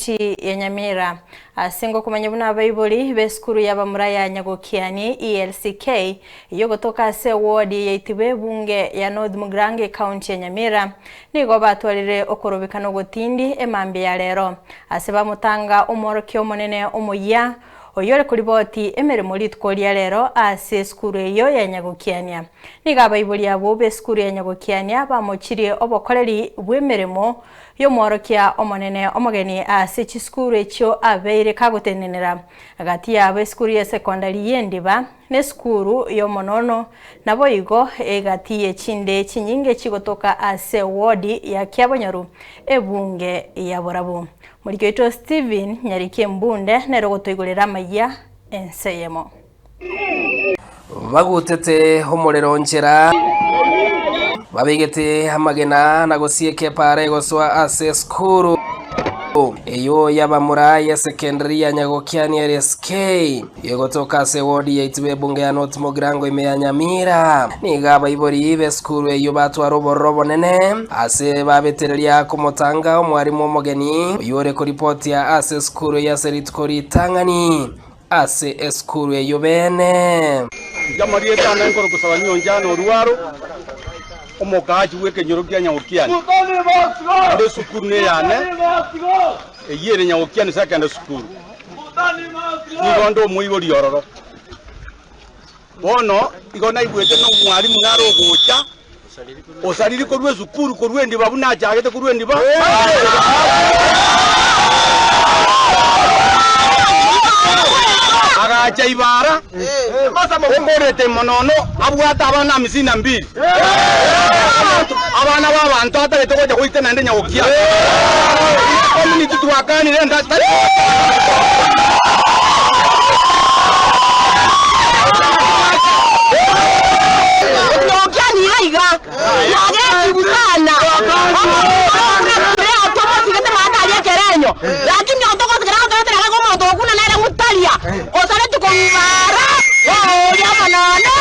Chi ya Nyamira. Ase ngokomanya buna abaibori b'esukuru y'abamura ya Nyagokiani, ELCK, eyio gotoka ase ewodi eyaitibwa ebunge ya North Mugrange County ya Nyamira, nigo batwarire okorobeka nogotindi emambia ya rero ase bamotanga omworokia omonene omoyia oyore koriboti emeremo rituko ria rero ase esukuru eyio ya Nyagokiania. Nigo abaibori abwo b'esukuru ya Nyagokiania bamochirie obokoreri bw'emeremo Y'omworokia omonene omogeni ase chisukuru echio abeire kagotenenera. Gati yabo esukuru ye sekondari y'Endiba nesukuru y'Omonono naboigo egati yechinde chinyinge chigotoka ase wodi ya Kiabonyoru, ebunge ya Borabu. Moriki oito Stephen Nyariki Mbunde nere ogotoigorera amayia ense eyemo. Bagutete omorero nchera, babegete amagena na gosieka epaara egosoa ase esukuru eyio y'abamura y'esekendari ya Nyagokiani LSK egotoka ase ewodi yaito b'ebunge ya North Mogirango ime ya Nyamira. Nigo abaibori b'esukuru eyio batwara obororo obonene ase babetereria komotanga omwarimu omogeni oyio ore koripotia ase esukuru eyio ase rituko ritang'ani. ase esukuru eyio beene. Inche amarieta ane nkore gosaba nyoncha na orwaro, omokaachi bw'ekenyoro kia nyagokiani ande esukuru neyane, eyio ere nyagokiani sakenda sukuru, nigo nde omoibori ororo. Bono igo naigwete nomwarimu nare ogocha, osariri korwa esukuru, korwa endiba buna achagete korwa endiba. Agacha ibara, okorete monono, abwate abana amisini na mbiri. Abana b'abanto atagete gocha goita naende nyagokia. Ase community twakanire ense tari Nyagokia nigo iga nagetigwe sana. Tomotigete maate aria ekerenyo. Lakini otogotigera gotoetera gake omonto ogokuna nere mutaria. Osaretwe kong'uma ara, oria omonene.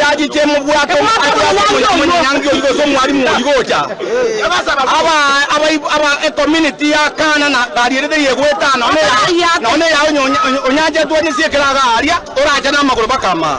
Yachiche mobwato aria ase omoika mwanyangi oyio gose omwalimu oyio gocha. Aba abaibo aba ecommunity ya Kana na barierete riegwa etano, nonya nonya onyancha etwanyisiekera iga aria, orache namagoro bakama.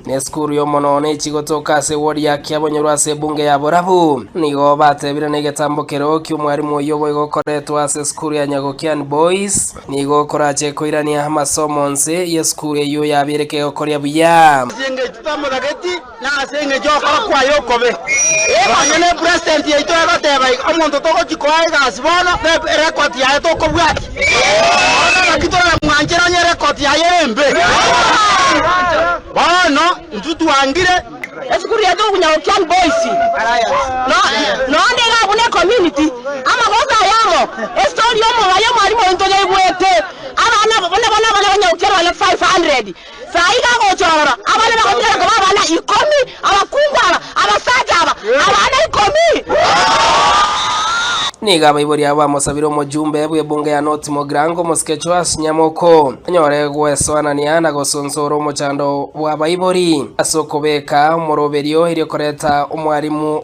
Nesukuru y'Omonene echi gotoka ase ewodi yake abonyorwe ase ebunge ya borabu. Nigo batebire negetambo kereo ki'omwarimu oyio boigo okoretwe ase esukuru ya Nyagokian Boys nigo okorache koirania amasomo onsi y'esukuru eyio yabereke gokoria buya. Ase engencho twamotageti, na ase engencho y'okora kwaye okobe. Nonya ne president yaito egoteba iga, omonto togochia koa egasi bono, ne record yaye tokobwatia. Bono naki toramwanchera onye ere ekoti yaye ere embe? Bono intwe twangire. Esukuru yaito okonya go Kiang Boys no noonde iga buna ecommunity amagoso aya amo estory y'omobayi omwarimu oito yaigwete abana buna bono abana banyagokera bana 500 Saa iga agocha ororo, abana bagotigara koba abana ikomi, abakungu aba, abasacha aba, abana ikomi. Nigo abaibori abo bamosabire omojumbe bw'ebunge ya North Mogrango, omosike Joash Nyamoko, anyore gwesoanania na gosunsora omochando bw'abaibori ase okobeka omoroberio erio koreta omwarimu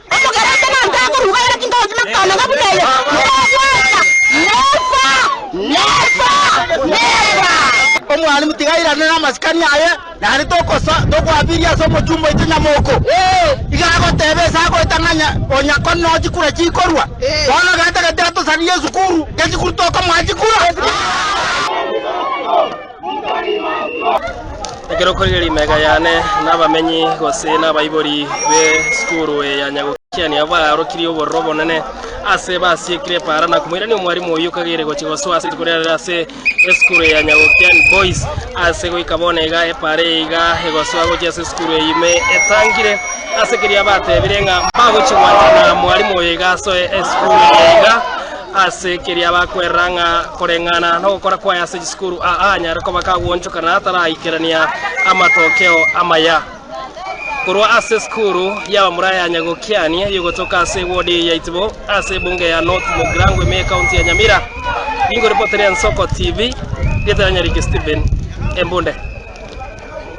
Omokerecha nainche akoruga ere tinda obosima kotooneka buna eye, nobwata, neba, neba, neba. Omwalimu, tiga airane namasikani aye, naende tokosa, tokoabiria ase omochumba oito nyamoko. Ee, iga agoteba ase agoeta ng'a nya, onya ko no chikura chikorwa. Bono getagete atosaririe esukuru, gesukuru tokomoa chikura. Ekero okorigia rimega yane nabamenyi gose nabaibori be sukuru eye ya Nyagokiania baarokirie obororo obonene ase basiekire epaara na komoirania omwarimu oyio kageire gochia gosoa ase rituko riarero ase esukuru eye ya Nyagokiani Boys ase goika bono iga epaara eye iga egosoa gochia ase esukuru eye ime etangire ase keria batebire ng'a mbagochia gwanchana mwarimu oyo iga asoe esukuru eye iga Ase keria bakwerera ng'a koreng'ana nogokora kwaye ase chisukuru aa nyare koba kagwonchoka na ataraikerania amatokeo amaya. Korwa ase esukuru y'abamura ya Nyagokiani eyogotoka ase ewodi eye ya Itibo ase ebunge ya North Mogirangwe me ekaunti ya Nyamira, ningoripotire Nsoko TV, rieta riane rike Stephen Embunde.